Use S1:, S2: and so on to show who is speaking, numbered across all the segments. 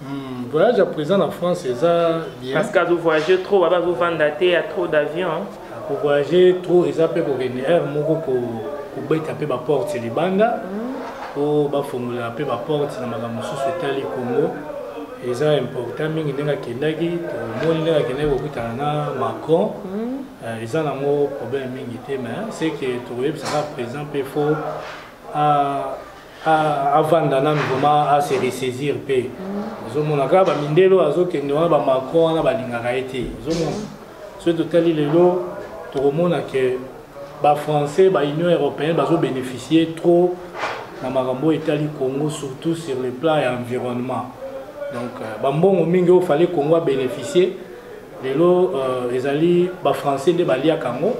S1: Hmm,
S2: voyage ya président na France eza bien. Parce que azo voyager trop,
S1: baba azo vanda te ya trop d'avion. Hein. Ko voyager
S2: trop eza pe ko kende heure moko ko ko beta pe ba porte libanda. Hmm. Po ba fongola pe ba porte na makambo mosusu etali Congo. eza important mingi ndenge akendaki tomoni ndenge akendaki kokutana na macron hmm. eh, eza nango problème mingi te mais ce que tokoyebisa kaka président mpe fo avanda nanu vraimen ase ressaisir mpe ozomona kaka bamindelo azokende wana bamacron wana balingaka ye te ozomona soki totali lelo tokomona ke bafrançais baunion européenne bazobénéficie trop na makambo oyo etali congo surtout sur le plan ya environnement donc euh, bambongo mingi oyo fale congo abénéficie lelo euh, ezali bafrançais nde baliaka yango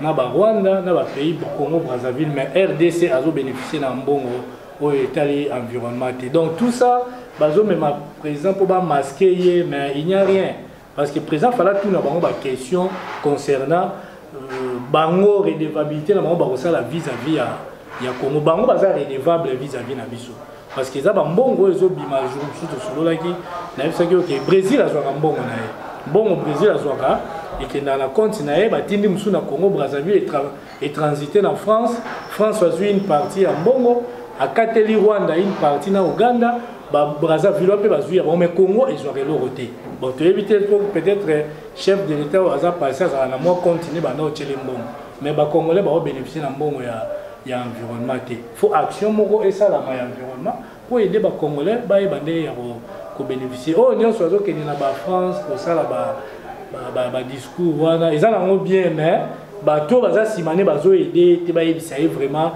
S2: na ba Rwanda na ba pays Congo Brazzaville mais RDC azo bénéficier na mbongo oyo etali environnement te donc tout ça bazomema président mpo bamaske ye mais il n'y a rien parce que président fala tuna bango baquestion concernant euh, bango redevabilité na bango bakosala vis-à-vis ya, ya congo bango baza redevable vis-à-vis na biso parce que eza bambongo oyo ezobima jour mosusu tosololaki nayebisaki oke brésil azwaka mbongo na ye mbongo brésil azwaka ekendaka na compte na ye batindi mosusu na congo brazzaville etransite na france france azwi une partie ya mbongo akateli rwanda une partie na uganda brazzaville mpe bazwi ya bango mai congo ezwaka eloko te bon toyebi te po peut-être eh, chef de l'état oyo aza passé azala na mwa compte nde banda otyele mbongo mai bacongolais baobénéficie na mbongo ya, ya environnement te faut action moko esalama ya environnement mpo ede bacongolais bayeba ndenge ya kobénéficie oyo oh, nyonso azokende na bafrance kosala badiscours wana eza nango bien mais bato baza nsima nde bazoede te bayebisa ye vraiment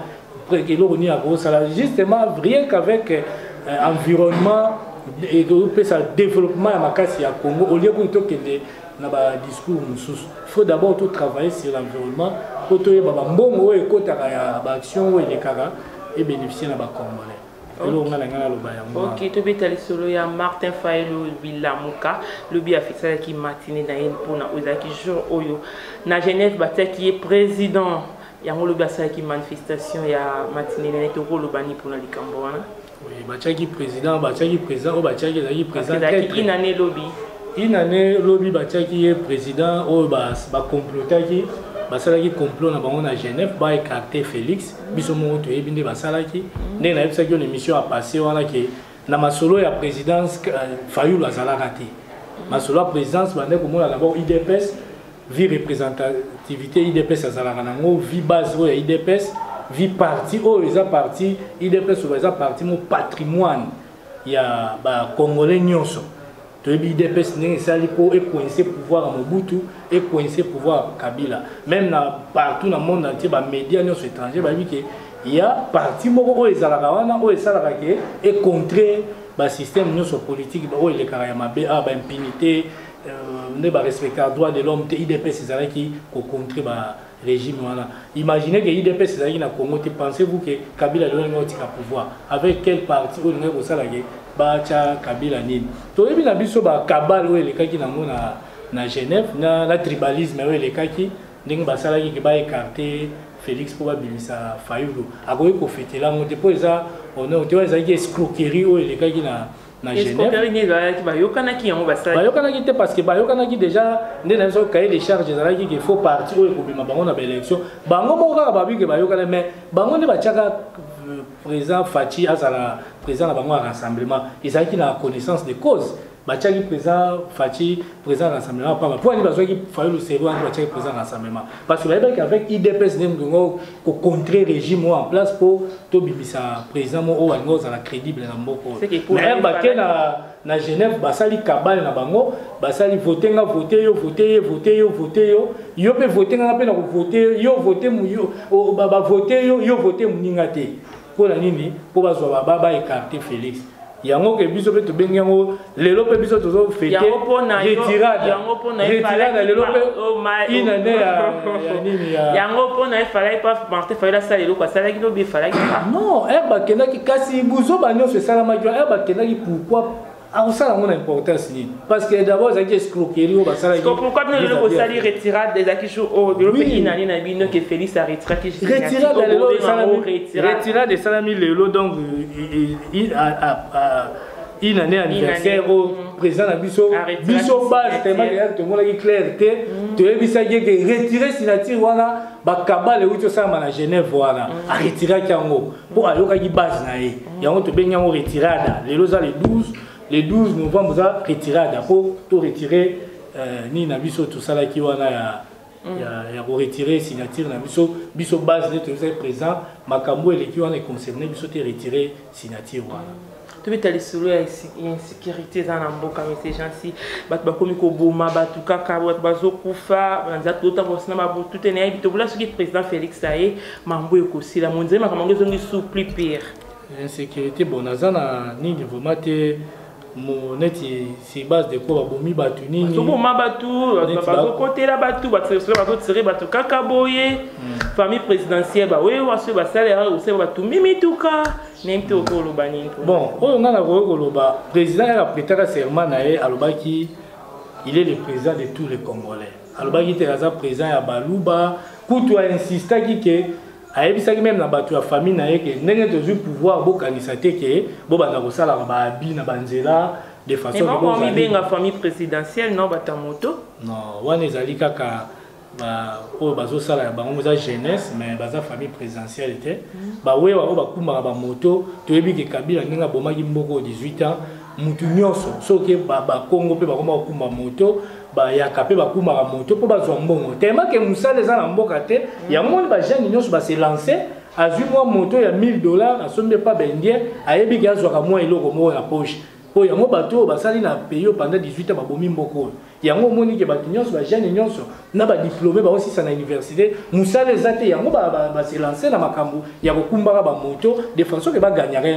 S2: eloko nini akosala justement rien qu'avec euh, environnement ekopesa développement ya makasi ya congo olie kutu tokende na ba discours mosusu faut d'abord to travailler sur l'environnement mpo toyeba bambongo oyo ekotaka ya baaction oyo elekaka ebénéficie na bacongolais eloko ngai na ngai naloba yango ok tobeta lisolo
S1: ya martin fayelo bilamuka lobi afisalaki matine na ye mpona oyo ezalaki jour oyo na genève batiaki ye président yango lobi asalaki manifestation ya matine na ye tokoloba nini mpona likambo wana batiaki
S2: président batiaki président oyo batiaki ezalaki présidentinane
S1: lobi inane
S2: lobi batiaki ye président oyo bacomplotaki basalaki complot na bango na genève baécarte félix biso moko toyebi nde basalaki ndenge nayebisaki yo na émission ya passé wana ke na masolo ya présidence euh, fayulu azalaka te masolo ya présidence bande komona dabord idps vie representativité idps azalaka nango vie base oyo ya idps vie parti oyo eza parti idps oyo eza parti mo patrimoine ya bacongolais nyonso toyebi idps ndenge esali mpo ekoinse pouvoir ya mobutu ekoinse pouvoir ya kabila meme na partout na monde entier bamédia nyonso étranger bayebi ke ya parti moko oyo ezalaka wana oyo esalaka ke econtre basystème nyonso politique oyo elekaka ya mabe awa ah, baimpunité Euh, nde barespecta droit de l'homme te idps ezalaki kocontre barégime wana imagine ke idps ezalaki na congo te pensez vous ke kabila lelo olingi otika pouvoir avec quel parti oyo olingaki kosala ke batya kabila nini toyebi na biso bakabale oyo elekaki nango na, na genève na, na tribalisme oyo elekaki ndenge basalaki ke baekarte félix mpo babimisa fayulu akoki kofetela yango te mpo eza honor te oyo ezalaki escroquerie oyo elekaki na
S1: na bayokanaki te parce que
S2: bayokanaki déjà nde na biso cahier de charge ezalaki ke faut parti oyo ekobima bango na baélection bango moko kaka babi ke bayokana mais bango nde batiaka euh, président faci azala président na bango ya rassemblement ezalaki na connaissance de cause batiaki président faci président ya rassemblement pamba mpo ani bazwaki fayulu seri wana batiaki président ya rassemblement parce que bayebaki avec idps nde moto yango ko contrer régime oyo en place mpo tobimisa président moko oyo alingi kozala crédible na mboka oyo mais bake na na genève basali kabale na bango basali vote nga vote yo vote ye vote yo vote yo yo mpe vote nga mpe na kovote yo vote bavote yo yo vote moninga te mpo na nini mpo bazwa baba ba ekarte felix yango ke biso mpe tobengi yango lelo mpe biso tozo fete retirada lelo mpe oh, inane oh. ya nini yango mpo na efalaki
S1: pa martin fayoli asala eloko asalaki lobi efalaki non eh,
S2: bakendaki kasi buzoba nyonso esalamaki wana eh, bakendaki pourkoi akosala yango na importance nini parce que d'abord ezalaki escroquerie oyo basalakipouquoi bino lelo bosali
S1: retirade ezalaki jour oyo lelo mpe inani na bino ke félix aretiraki
S2: retirade esalami lelo donc une année anniversaire oyo mm. président na biso biso base tellement eyaki tomonaki claire te mm. toyebisaki eke retire signature wana bakabale euti osalama na genève wana mm. aretiraki yango mpo ayokaki base na ye yango tobengi yango retirada lelo eza le 12 le 12 novembre eza retirada mpo to retire euh, nini na biso tosalaki wana ya mm. ya, ya koretire signature na biso biso base nde toyozaki présent makambo eleki wana econcerne biso te retire signature wana tobeta lisolo
S1: ya insecurité eza na mboka mese jansi bato bakomi koboma bato kaka bato bazokufa banza totambosi na babutu te nayebi tobola soki président félix aye mambo ekosila monzele makambo yango ezongi sous plus pire insécurité
S2: bon naza na nini vraimen te neti C'est base de quoi babomi bato nini bazoboma bato
S1: bazokotela bato bazotire bato kaka boye hmm. famille présidentielle bawewa soki basalera osala bato mimituka nini te okoki oloba nini bon oyo ngai nakoki
S2: koloba président yaka pretaka serment na ye alobaki il est le président de tous les congolais alobaki te aza président ya baluba kutu ainsistaki ke ayebisaki meme na bato ya famille na ye ke ndenge tozwi pouvoir bokanisa te ke bobanda kosalaka baabi na banzela de façon mibenga famille
S1: présidentielle no bata moto non wana ezali
S2: kaka oyo bazosala ya bango eza jeunesse mais baza famille présidentielle te mm. bawewa oyo bakumbaka bamoto toyebi ke kabila ndenge abomaki mboko 18 ans mutu nyonso soki bakongo mpe bakoma kokumba moto bayaka mpe bakumaka moto mpo bazwa mbongo telemake mosala eza na mboka te yango moni bajeune nyonso base lance azwi mwa moto ya 1000 dollars asombi epa baindien ayebi ke azwaka mwa eloko moko na poche mpo yango bato oyo basali na pays oyo pendant 18 ans babomi mboko oyo yango omoni ke bato nyonso bajeune nyonso na badiplome baosisa na université mosala eza te yango baselanse na makambo ya kokumbaka bamoto de façon ke baganyaka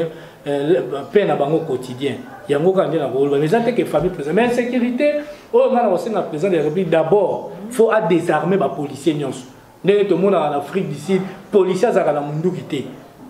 S2: eh, pe na bango quotidien yango kaka nde nakoloba eza te ke famille président mais insécurité oyo ngai nakosenga président de la république d'abord faut adésarme bapolicier nyonso ndenge tomonaka na afrique du sud policier azalaka na monduki te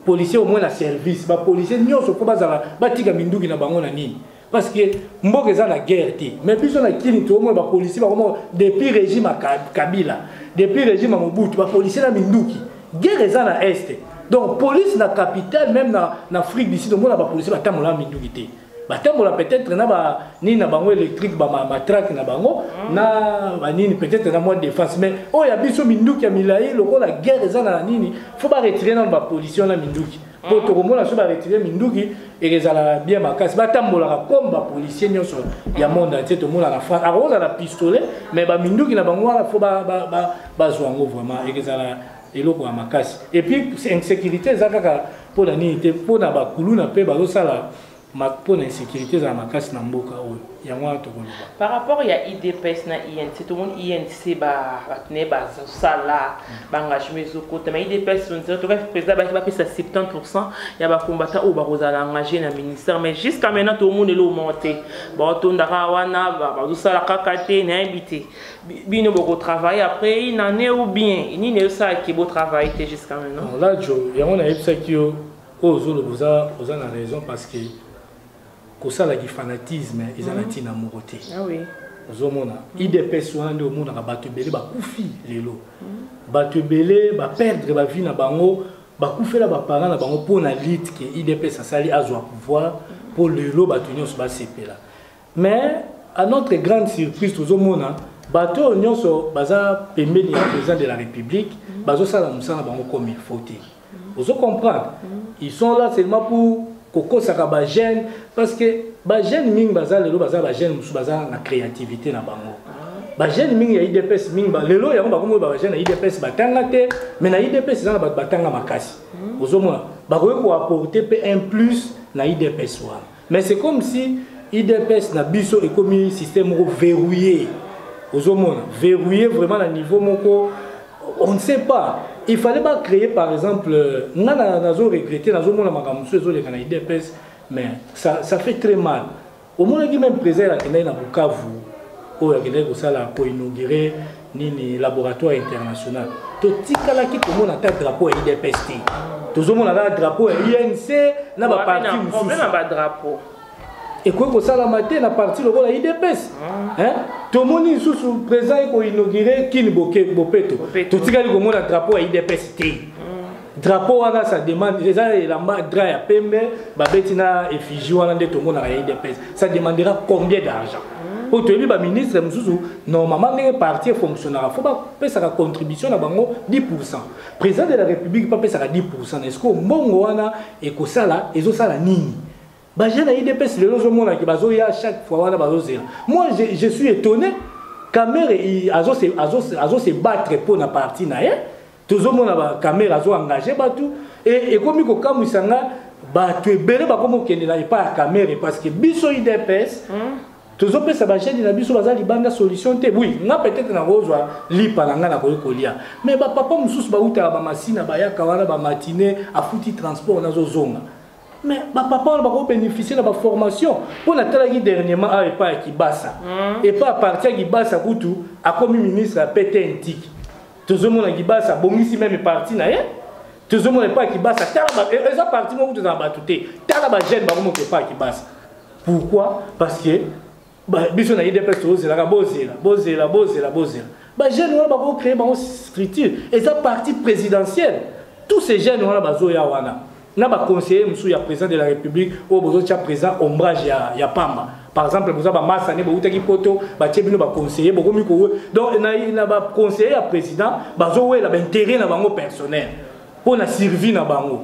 S2: policier omoi na service bapolicier nyonso mpo bazala batika minduki na bango na nini parce que mboka eza na guerre te mais biso na kini toomona bapolisier bakoma depuis régime ya kabila depuis régime ya mobutu bapolisier na minduki guerre eza na este donc police na capitale même na, na afrique du sud omona bapolisier batambola na minduki te batambola peut-être na ba nini na bango électrique ba matraque na bango mm. na ba nini peut-être na mwa défense mais oyo ya biso minduki ya milai lokola guerre eza na nini faut ba retirer na ba pollution na minduki po hmm. tokomona so baretire minduki ekezala bien makasi batambolaka comme bapolicier nyonso ya monde entier tomona na france akokoza na pistolet mais baminduki na bango wana fo bazwa yango vraiment ekezala eloko ya makasi epuis insécurité eza kaka mpo na nini te mpo na bakuluna mpe bazosala mpo na insecurité ezala makasi na mboka oyo yango wana tokoloba par rapport ya
S1: idps na inc tomoni inc bato na ye bazosala mm. baengagement ezokota ma idps toka président baki bapesa 70 pourcent ya bacombatant oyo bakozala engage na ministère mais jusqu'à maintenant tomoni eloo moko te baotondaka wana bazosala kaka te nayebi te bino bokotravaille après une année ou bien nini eyosalaki botravaille te jusqu'à maintenant là jo yango
S2: nayebisaki yo oyo ozoloba oza, oza na raison parce que kosala kifanatisme eza na ntina mhm. moko te ah
S1: ozomona mhm.
S2: idps wana nde omonaka bato ebele bakufi lelo mhm. bato ebele baperdre bavie na bango bakufela baparent na bango mpo na lite ke idps asali azwa pouvoir mpo lelo bato nyonso basepela mais à notre grande surprise tozomona bato oyo nyonso baza pembeni ya président de la république bazosala mosala bango comme il faut te ozo comprendre ils sont là seulement pour kokosaka ba jeune parce que ba jeune mingi baza lelo baza ba jeune mosusu baza na créativité na bango ba jeune mingi ya idps mingi lelo yango bakomi ba jeune ya idps batanga te mais na idps eza na bato batanga makasi ozomona bakoki koapporte mpe un plus na idps wana Mais c'est comme si IDPS na biso ekomi système moko verrouillé. Ozomona, verrouillé vraiment na niveau moko on ne sait pas. Il fallait pas créer par exemple euh, nga na nazo regretter nazo mona makambo mosusu ezoleka na IDPS mais ça, ça fait très mal. Omonaki même président akendaki na Bukavu oyo akendaki kosala ko inaugurer nini laboratoire international totikalaki komona ata drapeau ya idps te tozomona kaka drapeau ya inc na baparti mosusu
S1: ekoki
S2: kosalama te na parti lokola idps ah. tomoni lisusu président ekoinaugure kini bopeto totikali komona drapeau ya idps te drapeau wana sa demande eza elamba dra ya pembe babeti na effigie wana nde tomonaka ya idps ça demandera combien d'argent mpo toyebi baministre mosusu normalement ndenge parti efonctionnaka fo bapesaka contribution na bango 10 pourcent président de la république mpe apesaka 10 pourcent na esiko mbongo wana ekosala ezosala nini baje na idps lelo ozomonaki bazoya chaque fois wana bazozela moi je, je suis étonné kamere azose battre mpo na parti na ye tozomona ba camera azo engage bato e ekomi kokamwisa nga bato ebele bakomi kokendela epai ya camere parce que biso idps hmm? tozopesa bajeni na biso baza libanda solution te oui nga peut-être nakozwa lipa na ngai nakoki kolia mais bapapa mosusu bautaka bamasina bayaka wana bamatine afuti transport nazozonga mais bapapa wana bakoki bénéficie na baformation mpo natalaki dernièrement awa epai ya kibasa hmm. epai ya parti ya kibasa kutu akomi ministre ya pete intiki tozomona kibasa abongisi meme parti na ye tozomona epai ya kibasa tala e, eza parti moko toza na bato te tala bajeune bakomoka epai ya kibasa pourquoi parce que biso na idps tozelaka bozela bozela bozela bozela bajeune wana bakocree bango structure eza parti présidentielle tous ces jeunes wana bazoya wana na ba conseiller musu ya président de la république oyo bozo tia président ombrage ya, ya pamba par exemple boza ba masa ne bowutaki poto batie bino ba conseiller bokomi ko donc na, na ba conseiller ya président bazowela ba intérêt na bango personnel mpo na survie na bango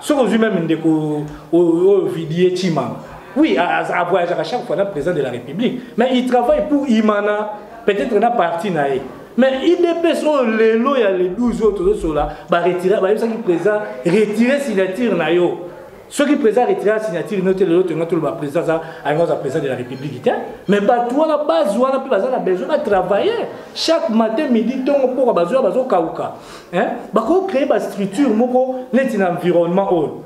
S2: soki ozwi meme ndeko oyo vidie chimanga oui avoyageaka chaque fois na président de la république mais il travaille pour imana peut-être na parti na ye mais idps oyo lelo ya le 12 oyo tozosola baretira bayebisaki président retire signature na yo soki président retira signature no te lelo tolinga toloba président aza alinga aza président de la république te mais bato wana base wana mpe baza na besoin batravaille chaque matin midi ntongo mpoka bazoya bazokauka bakoki créer bastructure moko neti na environnement oyo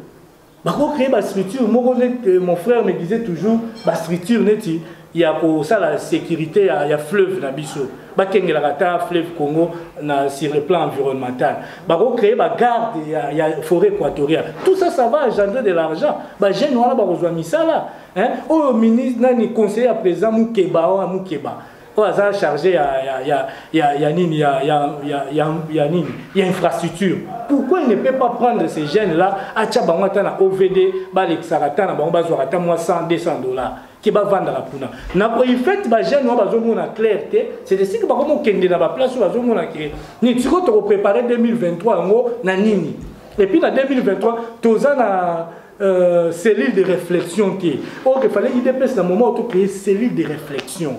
S2: bako créer ba structure moko neti euh, mon frère me disait toujours ba structure neti ya kosala sécurité ya, ya fleuve na biso bakengelaka ata fleuve congo na sur le plan environnemental bako créer ba garde ya, ya forêt équatoriale tout ça ça va engendrer de l'argent ba jeune wana bakozwa misala hein oyo ministre nani conseiller ya président mukeba wana mukeba oyo aza charge ya, ya, ya, ya, ya nini ya, ya, ya, ya, ya nini ya infrastructure pourquoi il ne peut pas prendre ces jeunes là atya bango ata na ovd balekisaka ata na bango bazwaka ata mwa 100 200 dollars ke bavandaka kuna na koifete bajeune oyo bazomona claire te c'est esika bakoma okende na baplace oyo bazomona ke nini sikoyo tokoprépare 2023 yango na nini epuis na 2023 toza na Euh, cellule de réflexion te ok fallait idps na moment to créer cellule de réflexion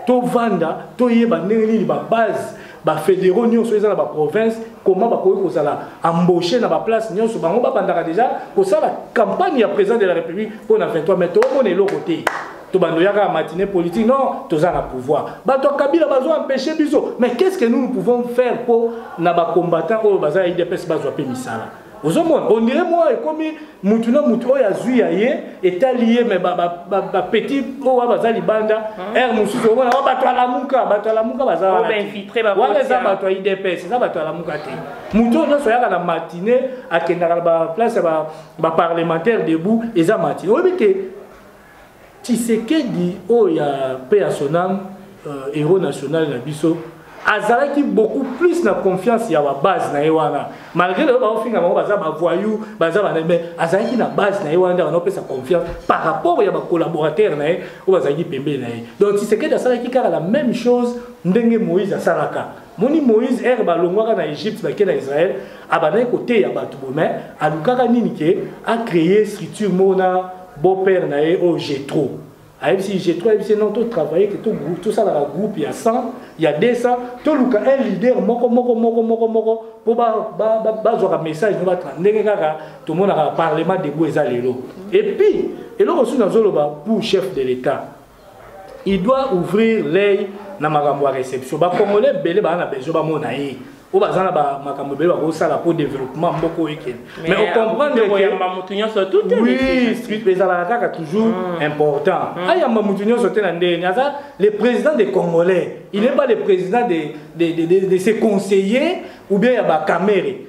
S2: tovanda toyeba ndenge nini babase bafédéraux nyonso eza na baprovince comment bakoki kozala embauché na baplace nyonso bango babandaka déjà kosala campagne ya président de la république mpo na 23 mai toomona eloko te tobanda oyaka ya matine politique non toza na pouvoir bato ya kabila bazo empêche biso mais qu'est ce que nous nous pouvons faire mpo na bacombattant oyo baza ya idps bazwa mpe misala ozomona ondire mwa ekomi mutu na mutu oyo azwi ya ye etali ye me bapetit oyo wa baza libanda ere hmm. mosusu omona wa bato alamuka bato alamuka baza
S1: wana eza bato ya idps
S2: eza bato alamuka te moto oyo nyonso ayaka na matine akendaka na baplace ya baparlementaire debout eza matine oyebi te Tshisekedi oyo ya paix à son âme euh, héros national na biso azalaki beaucoup plus na confiance ya babase na ye wana malgré lelo baofinga bango baza bavoyou baza bana mais azalaki na base na ye wana nde bana opesa confiance par rapport ya bacollaborateur na ye oyo bazalaki pembeni na ye donc tisekedi asalaki kaka la même chose ndenge moïse asalaka moni moïse ere balongwaka na egypte bake na israel abandaki koteya bato bomai alukaka nini ke acreye structure moko na beau père na ye oyo oh, jetro ayebisi jetro ayebisi non to travaille ke tosalaka groupe ya 100 ya 200 toluka un leader moko moko moko moko moko mpo bazwaka message no batra ndenge kaka tomonaka parlement debout eza lelo epuis eloko susu nazoloba pour chef de l'état il doit ouvrir l'œil na makambo ya réception bacongolais ebele baa na besoin bamona ye oyo baza na makambo ebele bakosala mpo développement moko oyo ekende mais ocomprendekoyamba motu nyonso tutwi ezalaka kaka toujours hmm. important hmm. ayamba motu nyonso te na ndenge ni aza le président des congolais il n'est hmm. pas le président de, de, de, de, de ses conseillers ou bien ya bakamere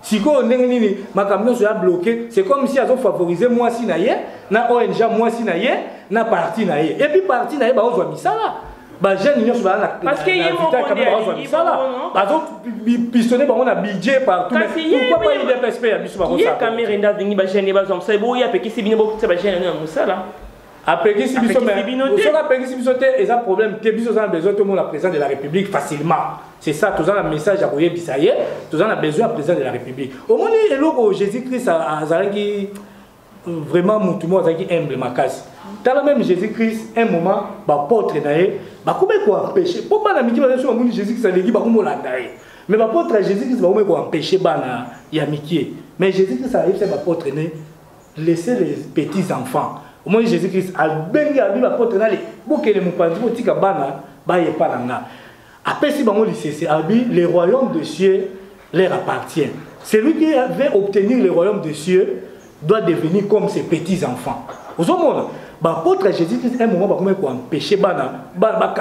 S2: sikoyo ndenge nini makambo nyonso ya bloke c'est comme si azofavorize mwasi na ye na ong mwasi na ye na parti na ye epuis parti na ye baozwa misala bajeune nyonso baazwa
S1: misala
S2: bazopistone bango na budget partoutpsp ya biso bakosakamere nde alingi
S1: bajeune ye bazwa mosala boye apekisi bino bokutisa bajeune yango na mosala apekisi
S2: biso mais soki apekisi biso te eza problème te biso oza na besoin tomona président de la république facilement c'est ça toza na message ya koyebisa ye toza na besoin ya président de la république omoni eloko jésus christ azalaki vraiment motu moko azalaki humble makasi tala même jésus christ un moment bapotre na ye bakomaki koempêche mpo bana mike baza soki bamoni jésus christ aleki bakomolanda ye mais bapotre ya jésus christ bakomaki koempêche bana ya mikie mais jésus christ ayebisa bapotre ne laissez les petits enfants omoni jésus christ abengi alobi bapotre nale bokele mopanzi botika bana baye epa na nga apesi bango lisese alobi le royaume de cieux leur appartient celui qui avait obtenir le royaume de cieux doit devenir comme ses petits enfants ozomona baapôtre ya jésus christ un moment bakomaki koempêche bana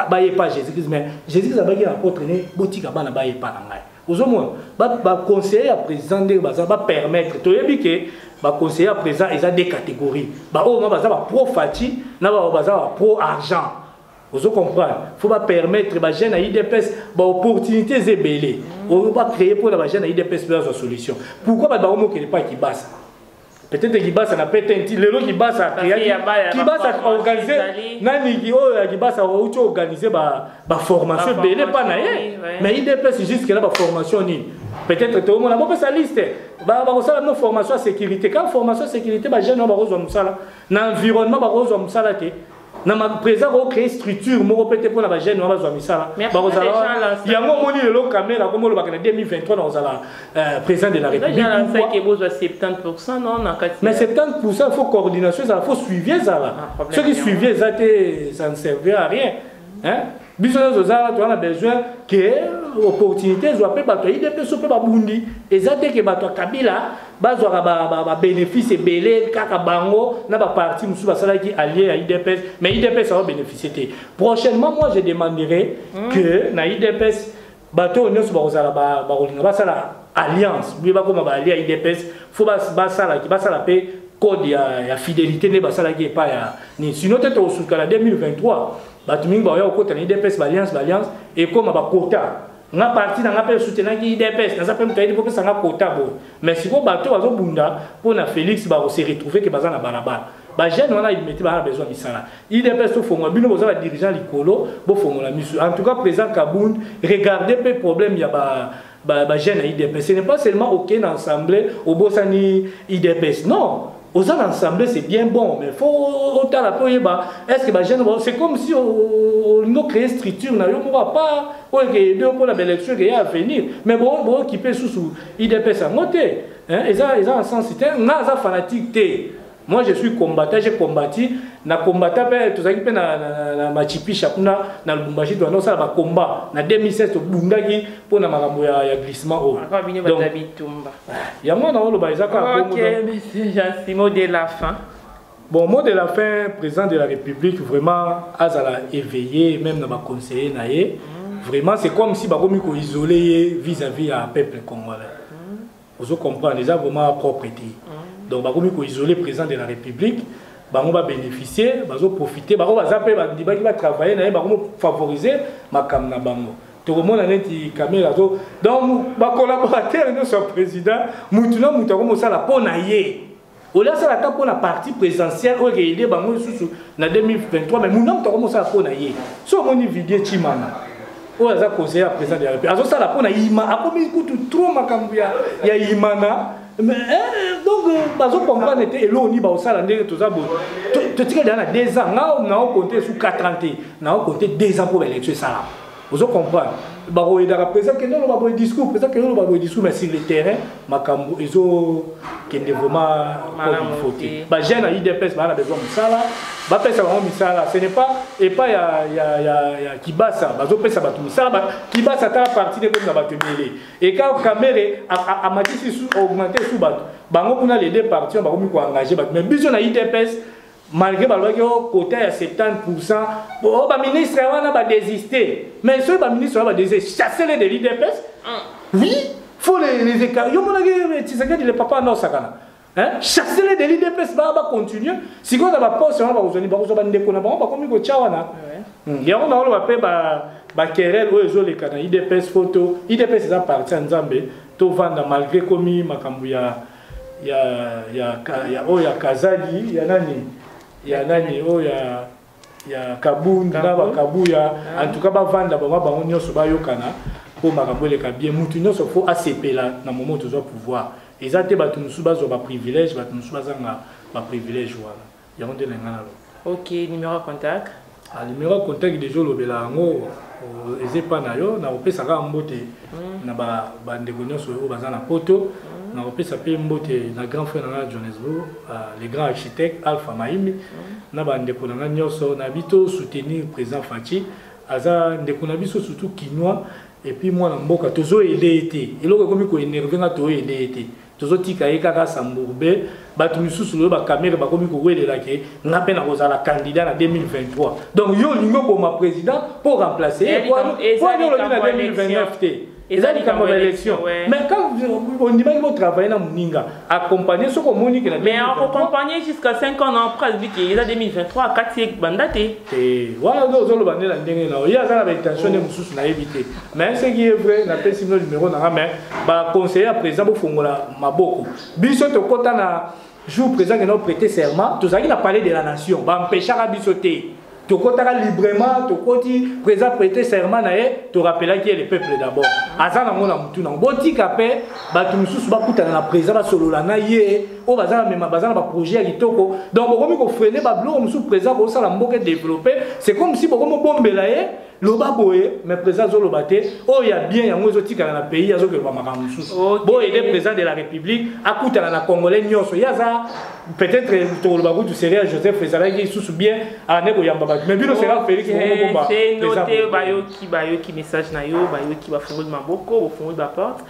S2: baye epa jésus christ mais jésus christ abaki na apôtre ne botika bana baye epa na ngai ozomona baconseiller ya président ndenge baza bapermettre toyebi ke baconseiller ya président eza de catégorie baoyo ma baza bapro fati na bao baza bapro argent ozo comprendre faut bapermettre bajeune ya idps baopportunité eza ebele oyo bacreye mpona bajeune ya idps mpe azwa solution pourquoi bato bakomokele mpa kibasa peut-être kibasa na pete nti lelo kibasa kibasa organise naniki oyo ya kibasa outi organise baformation ebele mpa na ye mais idps jusque na baformation nini peut-être toomona bopesa liste bakosala bino formation ya sécurité kaka formation ya sécurité bajeune oyo bakozwa mosala na environnement bakozwa mosala te na ma président ko créer structure moko pete pona ba jeunes wana bazwa misala bakozala yango omoni lelo kamere akomi olobaka na 2023 nakozala euh, président de la république bozwa 70
S1: non na kati mais 70
S2: pourcent faut coordination ezala faut suivi ezala ah, soki suivi eza te ça ne servir à rien hein biso nyonso eza wana toza na besoin ke opportunité ezwa mpe bato ya idps mpe babundi eza te ke bato ya kabila bazwaka babénéfice ebele kaka bango na baparti mosusu basalaki allié ya idps mais idps awa bénéficie te prochainement moi je demanderai hmm. que na idps bato oyo nyonso bakozala bakolinga basala alliance bie bakoma baalie ya idps fo basalaki basala mpe code ya, ya fidélité nde basalaki epai ya nini sino te tokosuka na 2023 bato mingi bakoya kokota na idps baalliance baalliance ekoma bakota nga parti na nga mpe esutenaki idps naza mpe moto ayedi kopesa nga kota boye mais sikoyo bato bazobunda mpo na félix bakose retrouve ke baza na balabala ba jeune wana imeti ba besoin misala idps to fongola bino boza ba dirigeant likolo bo fongola misu en tout cas président Kabund regardez pe problème ya ba ba, ba jeune idps ce n'est pas seulement ok na assemblée obosani idps non aux assemblées c'est bien bon mais faut autant la payer bah est-ce que bah jeune c'est comme si on nous créer structure n'a on va pas ou que deux pour la belle élection qui à venir mais bon bon qui peut sous sous idps à monter hein ils ont ils ont un sens c'était n'a fanatique Moi je suis combattant, j'ai combattu na combattant pe tozalaki pe na, na, na, na machipisha kuna na Lubumbashi to anonsa ba combat na 2016 tobundaki pona makambo ya, ya glissement oyo. Akwa bino ba bitumba. Yango na oloba ezaka bongo. OK, monsieur
S1: Jean Simon de la fin. Bon, mot de
S2: la fin, président de la République, vraiment, Azala éveillé, même dans ma conseiller, naïe. Mm. Vraiment, c'est comme si Bakomiko isolé vis-à-vis à peuple congolais. ozo comprendre eza vraiment propre te mm. donc bakomi ko isoler président de la république bango ba bénéficier bazo profiter bango baza pe bandibaki ba travailler na ye bango favoriser makambo na bango tokomona neti kamera to donc ba collaborateur nyonso ya président mutu na mutu akomosala mpo na ye olia asala ata mpo na parti présidentielle oyo ekeide bango lisusu na 2023 mai muna moto akomosala mpo na ye so omoni vidie chimana oyo aza conseiller ya président de la république azosala mpo na ima akomi kutu trop makambo ya imana eh, eh, donc euh, bazocomprendre te eloko nini baosala ndenge toza boye totikali aa na 2 ans nga naokonte esu 4 ans te naokonte 2 ans mpo baélection esalama ozo comprendre bakoyedaka président kende oloba boye discours président kende oloba boye discours mais sur le terrain makambo ezokende vraiment comme il faut te bajeune ya udps baa na besoin mosala bapesa bango misala ce n'est pas epai ya, ya, ya, ya kibasa bazopesa bato misala ba, kibasa tala parti nde ekomi na bato ebele eka kamere amatisi augmente su bato bango kuna les deux parti bakomi koengage bato mais biso na udps malgré balobaki o oh, kota ya 70 pourcent o oh, baministre wana badesiste mais soki baministre wana badesiste chasse le de l'idps ah. oui faut les, les écarts yo monaki eh, tshisekedi le papa anda osakana chasse le de l'idps baa bacontinue sikoyo na baposte wana bakozwani bakozwa bandeko na bango bakomi kotya wana hmm. yango naoloba mpe bakerele oyo ezoleka na idps foto idps eza parti ya nzambe tovanda malgré komi makambo ya ya ya ya oyo ya kazali ya nani ya nani oyo ya ya kabund na bakabuya ah. en tout cas bavanda bango bango nyonso bayokana mpo makambo eleka bien motu nyonso fo asepela na momo tozwa pouvoir eza te bato mosusu bazwa baprivilège bato mosusu bazanga baprivilège wana yango nde na ngai naloba ok numero
S1: ya contact ah, numero ya contact
S2: deja olobela yango eza epa na yo nakopesa kaka mbote mm. na bandeko nyonso oyo baza na poto mm. nakopesa mpe mbote na grand frère na ngai ya johannesbourg ah, le grand architecte alpha maimbi mm. na bandeko na ngai nyonso na bito soutenir président faci aza ndeko na biso surtout kinois epuis mwana mboka tozoyede ye te eloko ekomi koenerve nga toyede ye te tozotika ye kaka sambourbe bato misusu loyo bakamere bakomi kowelela ke nga mpe nakozala candidat na 2023 donc yo olingi oboma président mpo remplace ye po yo olobi na 2029 te eza likambo ya élection mais quand ondimaki botravaille na moninga accompagne soki omoni kela mais akocompagne
S1: jusqu'à 5 ans na après alobi ke eza 2023 akati ye banda te wana nde
S2: ozoloba nde na ndenge na yo ye aza na baintention nde mosusu nayebi te mais ce qui est vrai napesi bino numero na nga mais baconseiller ya président bofongola maboko biso tokɔta na jour président kena prêter serment tozalaki na palais de la nation bampeshaka biso te tokotaka librement tokoti président prêter serment na ye torapelaki ye le peuple d'abord aza nango na motu nango botika mpe bato mosusu bakutana na président basolola na ye oyo baza na mema baza na baprojet ya kitoko donc bokomi kofrene babiloko mosusu président kosala mboka développe c'est comme si bokomi obombela ye loba boye mais président azoloba te oyo oh, ya bien yango ezotikala na pays azokeba makambo mosusu okay. boye nde président de la république akutana na congolais nyonso ye aza peut-être tokoloba kutu seria joseph ezalaki lisusu bien ane koyamba bato mais bino sera félix te
S1: bayoki bayoki message na yo bayoki bafungoli maboko bofungoli baporte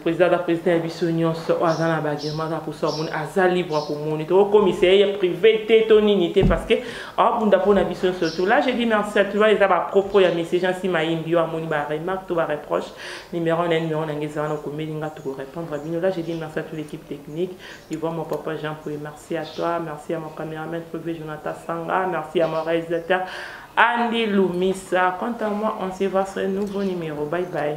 S1: président aza président ya biso nyonso oyo aza na bagema aza mposo amoni aza libre ya komoni tokokomisa ye privé te to nini te parce que abunda mpo na biso nyonso to là je dis merci à tout va eza bapropos ya message ansi mayimbi yo amoni baremarque to bareproche numéro na numéro na ngai eza wana okomeli nga tokorépondre bino là je dis merci à toute l'équipe technique tu vois mon papa jean poye merci à toi merci à mon caméraman privé jonathan sanga merci à mon réalisateur Andy Lumisa. Quant à moi, on se voit sur un nouveau numéro. Bye bye.